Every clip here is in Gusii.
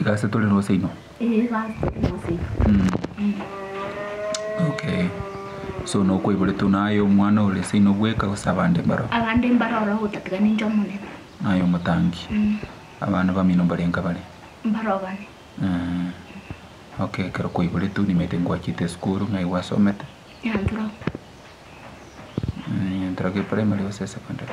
Iga ase tore nose inwe? Ee iga ase tore nose inwe. Mm. Okay. So nokoiboretwe naye omwana ore ase inwe bweka gose abande mbaro? Abande mbaro ororo gotatiga ninche omonene. Naye omotangi. Mm. Abana bamino mbare nka bare? Mbare obane. Mm. Okay, ekero koiboretwe nimanyete ngwachete esukuru ng'ai gwasomete? Nyantorok. Nyantorok primary gose secondary?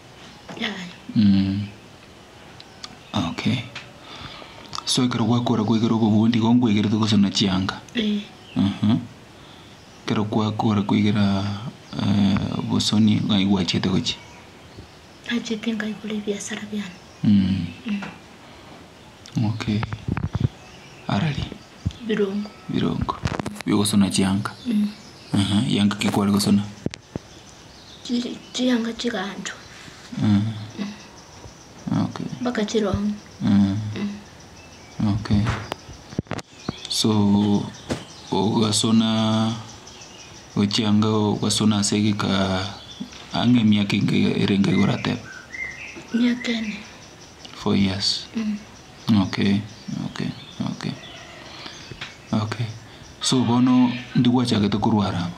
Okay so ekero gwakora kwegera obogundi igo nkwegerete gose na chianga? Ekero kwakora kwegera obosoni ng'ai gwachiete gochia? Nachete nkaigora ebiasara biane. Okay ara ri? Ebirongo. Ebirongo biogosona chianga? Eeh, chianga ki kware gosona? chiri chianga chigancho Mm. Okay. mpaka chirong'u Mm. Okay. So ogasona ochianga ogasona ase egeka ang'e emiaka enga erenge iga orateba miaka ene four years Mm. okay okay okay okay so bono ndigwachagete korwara aba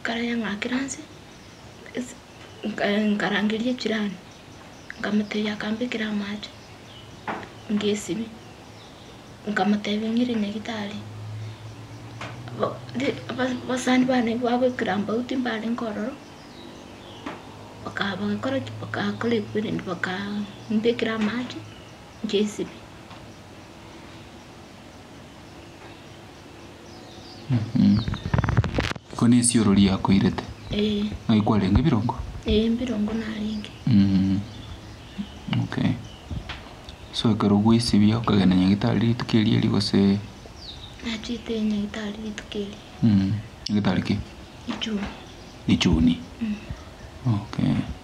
Nkarayeng'akera nse, nkarangeria echirani, nkamotebia akambekera amache, ngesibia, nkamotebia ng'ire nyagetari, abasani bane babo ekerambagu timbarenge ororo, bakaba bagakora ki? Bagakora equivalent, bakambekera amache, ngesibia. Iko nesioro riakoirete? Ee. Ng'ai kwarenge birongo? Ee mbirongo narenge. Okay. So ekero gwaesibia okagenda nyagetari rituko erio erio gose? Nachete nyagetari rituko erio. Nyagetari ki? Richuni. Richuni? Okay.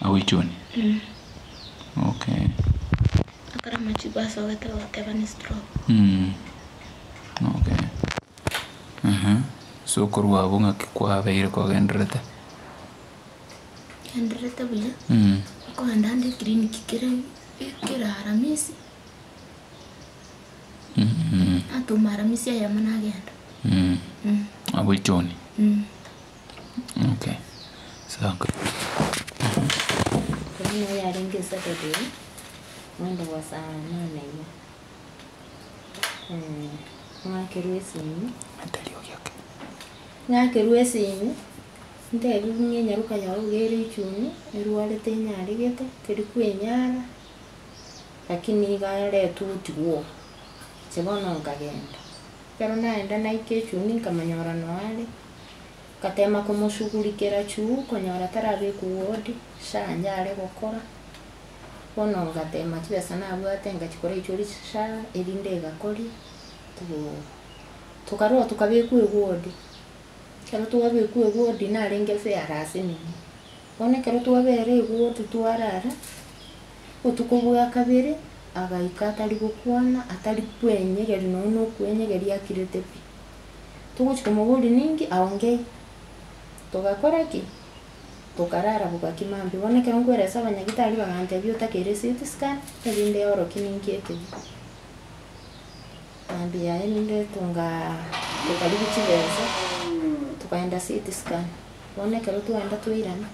Agoichoni? Eeh. Okay. Ekero amachigo asogete bagoteba ne stroke. Mm. Okay. Aha. So korwa abwo ng'aki kwabeire kogendererete? Gendererete buya. Mm. Nkogenda ande eclinic kera kera aramisi. Natoma aramisi eyemo nagenda. Mm. Mm. Agoichoni? Mm. Okay, sawa. Korende noyo oyarenge esabari eye, moende gosaara Omwana iga, ee, ng'akerwe esinyo, Atari ogioke. ng'akerwe esinyo, ntebie buna enyaruka nyore buya ere echuni, erwarete enyaregete, teri kwenyara, lakini iga aretwe otigwe oo. Inche bono nkagenda, ekero naenda naika echuni nkamonyora noo are. Ngatema komosugurikera chuguu konyora tarabekwa ward, sha inche are gokora, bono ngatema chibesa nabwate ngachikora erio chiri sha erinde egakoria, togoo tokarua tokabekwa eward, ekero twabekwa eward narenge fair ase emenwa, bono ekero twabera eward twarara, botuko bwa kabere agaika atari gokwana atari kwenyegeria nonye na okwenyegeria akirete pi. Togochia komoboria ninki aongei. Togakora ki? Tokarara bogaki mambia. Bono ekero nkwera ase abanyagitari bagantebia otakeire CT scan, erinde oro ki ninki ekeya. Mambia erinde tongaa tokarigia chibesa, tokaenda CT scan. Bono ekero twaenda twairana,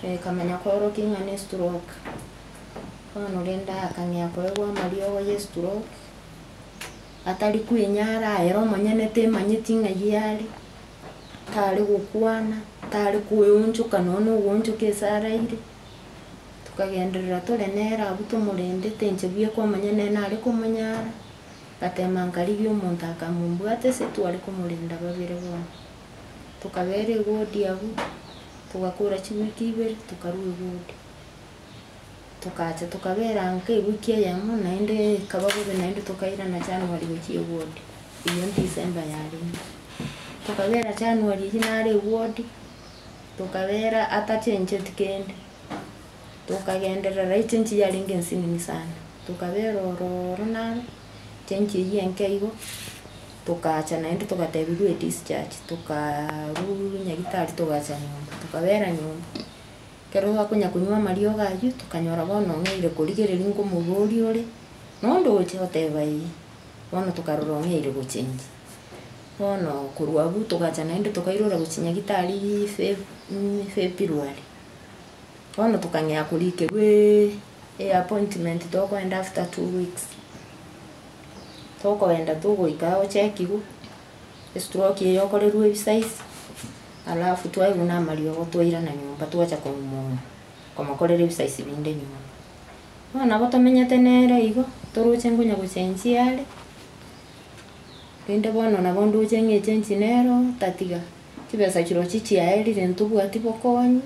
ekamanya koro ki ng'a ne stroke. Bono rende akang'ea koegwa amariogo ye stroke. atari kwenyara, aye ere omonyene temanyeti ng'ai are, tare gokwana, tare kweonchoka nonya na ogoonchoka ase araire. Tokagenderera tore nere abwo tomorendete inche buya komanya nere nare komonyara, ngatema nkarigia omonto akamombwata ase tware komorenda babere bono. Tokabera egodi abwo, togakora chiwiki ibere tokarwa egodi. Togacha tokabeera nkei wiki eyemo, naende ekaba bobe naende tokairana January gochia ewodi, eyio December yarenge. Tokabeera January eyio nare ewodi, tokabeera atachencheti kende, tokagenderera echenchi yarenge ensinini sana, tokabeera ororo naro, chenchi eyio enke igo, togacha naende togatebiwa edischarge, tokaarwa nyagitari togacha nyomba, tokabeera nyomba, Ekero twakonyakonywa amariogo ayio, tokanyora bono ong'eire korigereria nkomorua oria ore noonde ogochia goteba ee, bono tokarora ong'eire gochengia. Bono korwa abwo togacha naende tokairora gochia Nyagitari Fe- mm February. Bono tokang'ea korikerwa eappointment tokoenda after two weeks. Tokoenda togoika gochekigwa. Estroke eyokorerwa ebisize alafu twaigwa na amariogo twairana nyomba twacha komouma komokorera ebisize binde nyomba. Bono nabo tomenyete nere igo toroche ngonya gochenjia are rende bono nabo ndoche ng'echenji nere otatiga chibesa chirochio chiaerire ntobwati bokonyi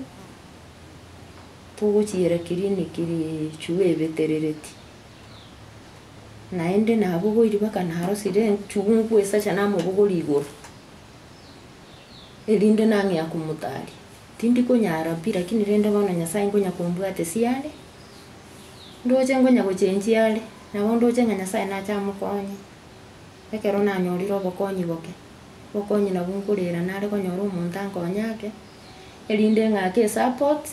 togochiera clinic richwe ebeterereti. Naende nabogoiri mpaka narosire enchungu esacha namobogori igoro, erinde nang'ea komotaria. Tindi konyara pi lakini rende bono Nyasaye nkonya kombwate siare, ndoche nkonya gochenchia are, nabo ndoche ng'a Nyasaye nache amokonye. Ekero nanyorire obokonyi boke, obokonyi nabwo nkorera nare konyora omonto ankonye ake, erinde ng'ake esapoti.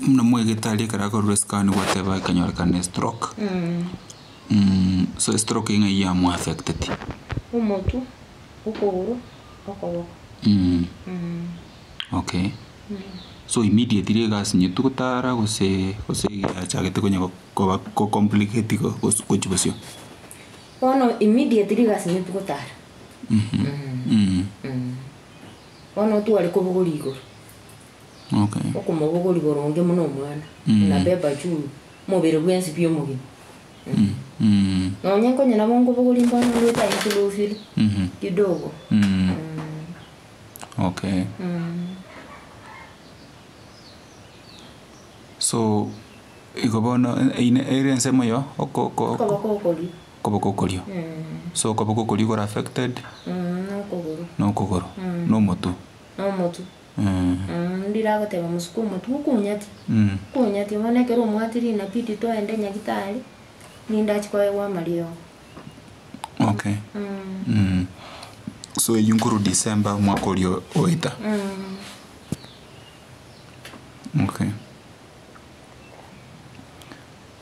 Muna mwegetari ekero akororwa escan gwateba ekanyorekana ne stroke. So estroke ng'ai ya mu affecteti? Omotwe, okogoro, okoboko. Okay. So immediately egasinyetu gotara gose gose yachagete konya gokoba ko complicate igo gos gochia bosio? Bono immediately gasinyetu gotara. Bono otware kobogori igoro. Okomobogori boronge buna omwana, onabeba chulu omobere bwensi pi omogima. Nonye nkonye nabo nkobogoria mbono ngoeta aye nkolofire kidogo. Okay. So igo bono ere ensemo ya okokoo. Okoboko okoria. Okoboko okoria. So okoboko okoria okore affected. Nokogoro. Nokogoro. Nomotwe. Nomotwe. Ndire agoteba omosuku omotibe, Okunyati? Okunyati? Bono ekero omwati rina nabidi toende nyagitari, rinde achie koegwa amariogo. Okay. So eyio nkorwa December omwaka oria oeta. Okay.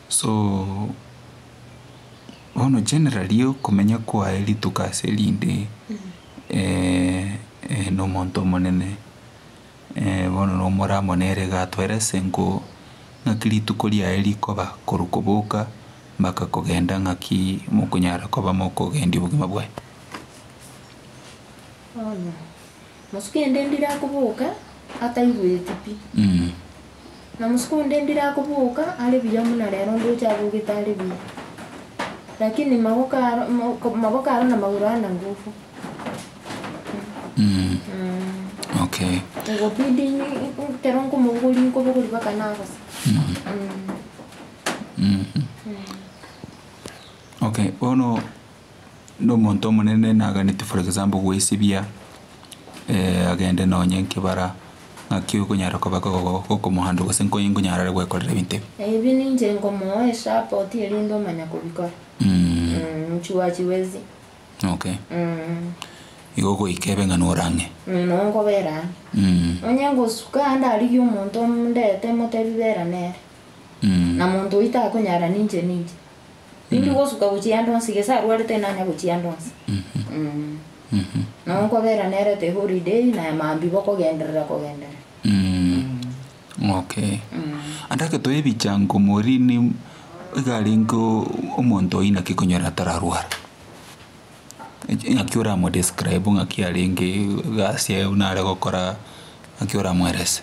So bono generally okomenya kwaye rituko ase rinde nomonto omonene bono nomora amo nere iga atwera esenko ng'aki rituko riaye rikoba korwa koboka mpaka kogenda ng'aki mokonyara koba mokogendia obogima bwaye. Mosuku ende ndirakoboka ataigweti pi, na mosuku onde ndirakoboka are buya buna rero ndoche abogete are buya. Lakini magoko aro moko magoko aro na magoro aro na ngufu. Okay. Ngobidi ni kero nkomobogori nkobogori mpaka nagose. Okay, bono. na omonto omonene naganetie for example goesibia agende nonye nkebara ng'aki okonyara koba okomohandle gose nkonya nkonyara are gwekorera ebinto ebi. Ebi ninche nkomoa esapport erinde omanya kobikora. Mochuachi bwezi. Okay. Igo goika ebe ng'a nore ang'e. Noo nkobera ang'e. Nonye ngosuka ande arigie omonto ndete motebi bera nere. Na monto oyio takonyara ninche ninche. Tindi gosuka gochia ande onsi, gese arwarete inanya gochia ande onsi. Nabo nkobera nere ati holiday na maambia bokogenderera kogenderera. Okay. Ande agetwa ebichango morini iga arenge omonto oyi naki konyora atararware. Ng'aki oramo describe ng'aki arenge egasi yaye buna are gokora ng'aki oramoerese.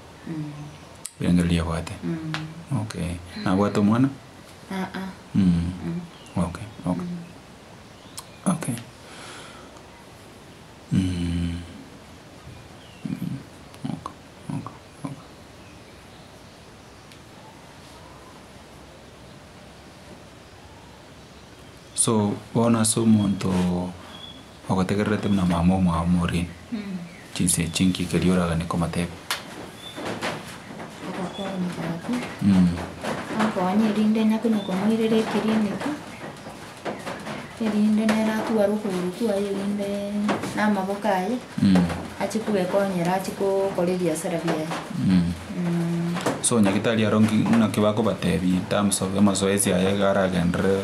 Riangereri abwate. Okay. Nabwate omwana? Aa. Okay. Okay. Okay. So bono ase omonto. Ogotegererete buna mama omwao morie chinsa echi inki keria oragane komoteba? Agakora omogati, akonye erinde enye konya komoirera ekeliniki, erinde nere atware okogoro kwaye erinde na amaboko aye ache kwekonyera ache gokora ebiasara biaye. So nyagitari aro nki- naki bakobatebia in terms of amazoezi aye iga aragenderere.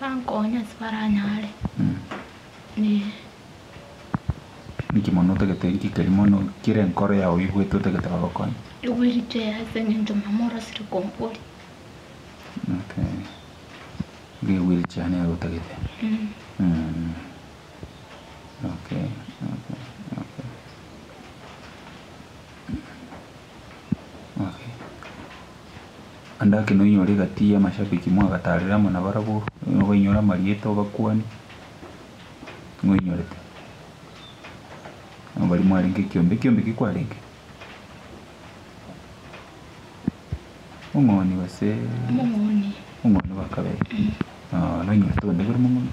Bankonye ase baranyare ne. Niki mono otagete nki keri mono kere enkoro yao oigwete otagete bagokonye? Igwe richeya ase engencho mama orasire konkori. Okay. Nigo igwe richeya nere otagete. Mm. Mm. Okay. Okay. Okay. Okay. Naende ake noinyore egati y'amashabiki mwagatarire amo nabarabwo, nigo bainyore amarieta obakuani moinyorete nabari mwarenge ekiombe ekiombe ki kwarenge omong'oni gose Omong'oni. omong'oni bwa kabere ah noinyorete onde bari mong'oni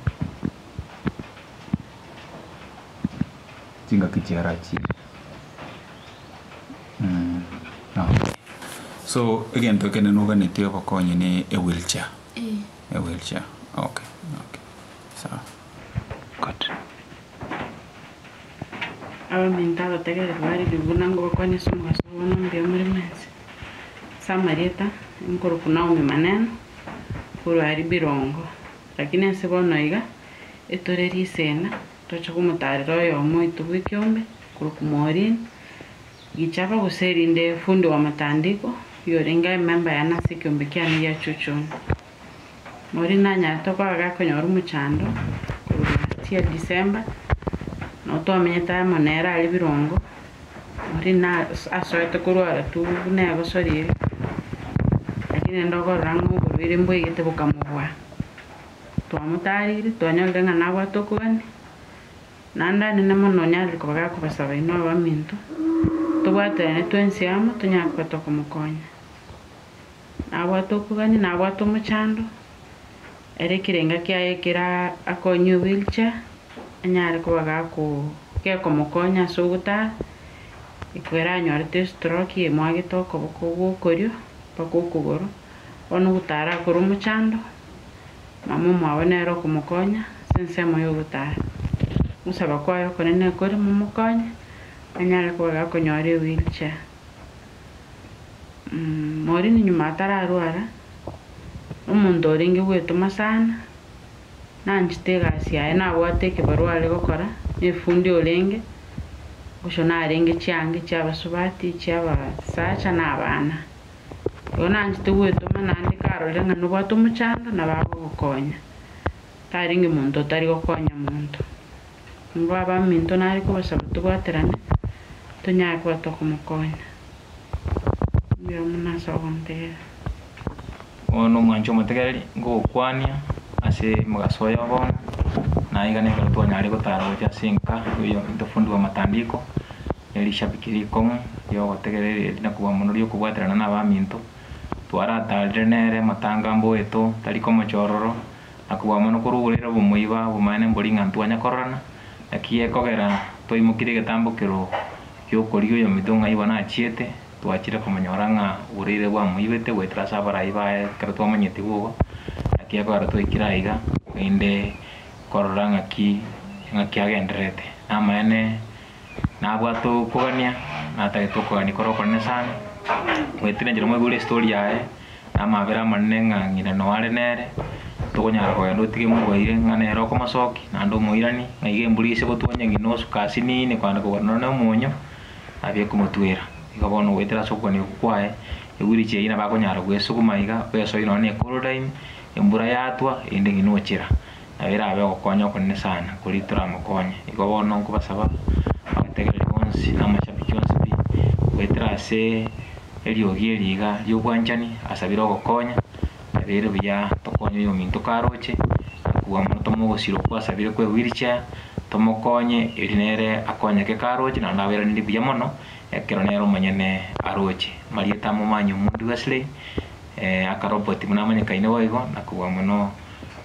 chingaki chiarachire. So egento ekere noganetie obokonyi ne e wheel chair. E wheel chair. Okay. Okay. Sawa. Good. Abaminto abategereti bariri buna ngobakonya ase omogaso bw'obono mbuya omoremo ense. Ase amarieta, nkorokwa Naomi Maneno, korwa aria Birongo. Lakini ense bono iga etoreri esena, Tocha komotaarera oyomo oito bw'ekiombe, korwa Kumorin, Gichaba gose erinde fundi wa matandiko, oyorenge aye memba yane ase ekiombe kiane gia Chuchun. Morin nanyarete okora gakonyora omochando korwa egati ya Disemba, na otwamenyete aye amo nere are birongo. Morin nase asoete korwara tu buna egosori ere, lakini rende okorora ng'a oborwaire mbwaigete bokamobua. Twamotaarire, twanyorire ng'a nabwate okogania, naende anene mono onye are koba gakobasaba inwe abaminto, tobwaterane twensi amo tonyare kobata komokonya. Nabwate okogania, nabwate omochando, ere ekerenga kiaye ekera akonywe ewheelchair, anyare koba gakoo gekomokonya ase ogotara, ekweranyorete estroki emwagete okoboko gwokorio mpaka okogoro, bono ogotara akore omochando, na momo abe nere okomokonya ase ensemo y'ogotaara. Ogosaba kwaye okonene ekore momokonye anyare koba gakonyora ewheelchair. Morini nyuma atararwara, omonto orenge gwetoma sana, nanchete egasi yaye nabwate ekebarua are gokora na efundi orenge, bosho narenge chianga echi'abasubati, echi'abasacha na abana. Oyo nanchete gwetoma naende karorire ng'a nobwate omochando nabo agogokonya, tarenge monto otari gokonya monto. Nigo abaminto nare kobasaba tobwaterane tonyare koba tokomokonya. Nigo erio buna ase ogontegerera. Oyo nomwanchi omotegereri, ngogokwania ase omogaso oye bono, naiga nekero twanyarire gotara gochia ase enka, buya intwe fundi bwa matandiko, ne rishabiki rikong'u ri'ogotegereria eri na kobua mono ri'okobwaterana n'abaminto, twarataarire nere amatanga a mboeto, tari komochororo, na kobua mono korogoreire obomoiba obomanene mbori ng'a ntibwanya kororana, naki ekogera twaimokirie egetambokero gi'okorigia oyominto ng'a igo nachiete, twachire komonyora ng'a oboreire bwamoibete goetera ase abarai baye ekero twamanyeti boba, naki ekogera twaikire aiga naende korora ng'aki ng'aki agendererete. Namaene. nabwate okogania, natagete okogania kore okonene sana, mwetire inche namoigure estory yaye, na amabera amanene ng'a ng'ina noo are nere, tokonyara kogenda otige mogwere ng'a nere okomosoki, naende omoirani, ng'a iga embura ise gotwani eng'ina nusu kasi nini kogenda kogora nonye na omonyo, abe ekomotwera. Igo bono goetera ase okogania okwo kwaye, egwiri chiaye nabo akonyara goesuguma iga, ogesoe nonye na ecool time, embura yatwa, erinde ng'ina ochira. Nabo erabe ogokonya okonene sana, koria toramokonye. Igo bono nkobasaba abategereri bonsi na amashabiki onsi pi, goetera ase eriogi eri iga ri'obwanchani asabire ogokonya, ebiire buya tokonye oyo ominto karoche, akobua mono tomogosira okwo asabire kwe wheel chair, tomokonye eri nere akonyeke karoche naende aberanirie buya mono ekero nere omonyene aroche. Marieta amo Manyumu Wesley. akaroboti buna amanyekaine boigo na kobua mono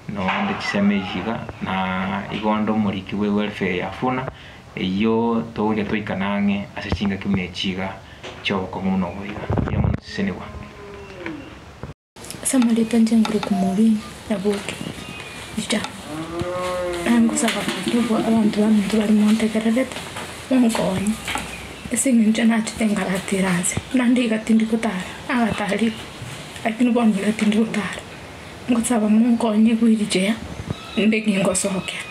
noonde chisemi iga na igo onde omoriki bwe welfare ya Funa eyio togoika toikana ang'e ase chingaki buna echi iga chi'obokong'u buna obo iga. Mbuya mono Sisenigwa. Ase amareeta inche Nguruk Mourin Nyabuto Peter, nangosaba abanto abanto baminto barimo ntegererete, monkonye. Ase engencho nachete nkaratera aase, buna ndiiga tindi gotara, nagatarirwe, lakini bono iga tindi gotara. Ngosaba monkonye bwe richeya, inde kengosokera.